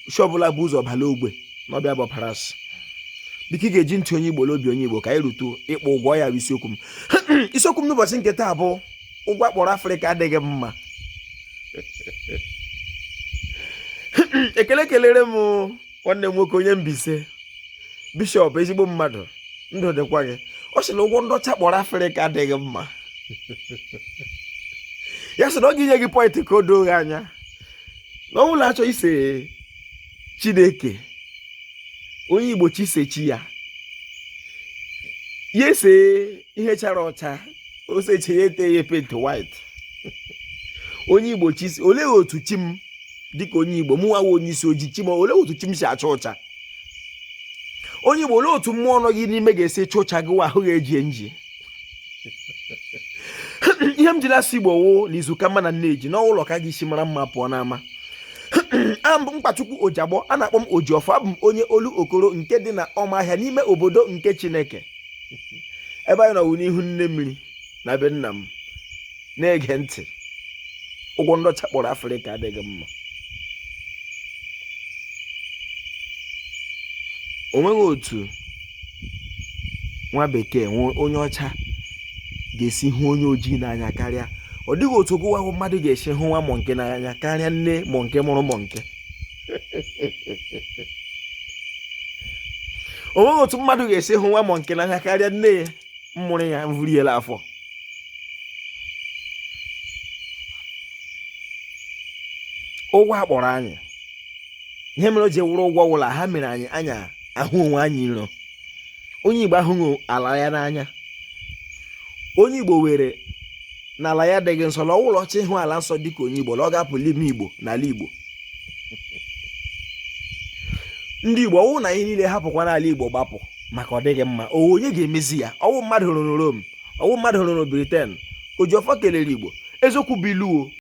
isi ọbụla bụ ụzọ bala ogbe na ọbịa bụ paras biko ị ga-eji ntị onye igbo n'obi onye igbo ka anyị rutu ịkpọ ụgwọ ya bụ isiokwu m isiokwu m n'ụbọchị nke taa bụ ụgwọ a kpọrọ afrịka adịghị mma ekele kelere m nwanne m nwoke onye mbaise bishọp ezigbo mmadụ ndụ dịkwa gị ọ sị na ụgwọ ndị ọcha kpọrọ afrịka adịghị mma ya sị na ọ ga-enye gị pọịntị ka o doo gị anya na ọ wụ la a chọọ ise chineke onye igbo chọọ ise chi ya ya esee ihe chara ọcha o sechee ya etee ya penti white onye igbo chi ise olee otu chi m dịka onye igbo mụwa wụ onye isi ojii chi m olee otu chi m si acha ụcha onye igbo olee otu mmụọ nọ gị n'ime ga-esi chaa ụcha gụwa ahụ ga-eji nji ihe m jiri asị igbo wụ na izu ka mma na nneji na ọ wụ ụlọ ka a ga-esi mara mma pụọ n'ama abụ m mkpachukwu ojiagbọ a na-akpọ m ojiọfọ abụ m onye olokoro nke dị na ọmahịa n'ime obodo nke chineke ebe anyị nọ wụ n'ihu nne mmiri na be nna m na-ege ntị ụgwọ ndị ọcha kpọrọ afrịka adịghị mma o nweghị otu nwa bekee onye ọcha ga-esi hụ onye ojii n'anya karịa ọ dịghị otu gụwa ahụ mmadụ ga-esi hụ nwa mọnke n'anya karịa nne mọnke mụrụ mọnke o nweghị otu mmadụ ga-esi hụ nwa mọnke n'anya karịa nne ya mụrụ ya vuru ya la afọ ụgwọ a kpọrọ anyị ihe mere o ji wụrụ ụgwọ wụ la ha mere anyị anyị ahụ onwe anyị iro onye igbo ahụghị ala ya n'anya onye igbo were na ala ya adịghị nsọ na ọ wụ la ọ chọọ ịhụ ala nsọ dịka onye igbo na ọ ga-apụ la ime igbo n'ala igbo ndị igbo ọ wụ na anyị niile hapụkwanụ ala igbo gbapụ maka ọ dịghị mma ọ wụ onye ga-emezi ya ọ wụ mmadụ rụrụ Rome ọ wụ mmadụ rụrụ Britain ojiọfọ kelere igbo eziokwu bụ ilu o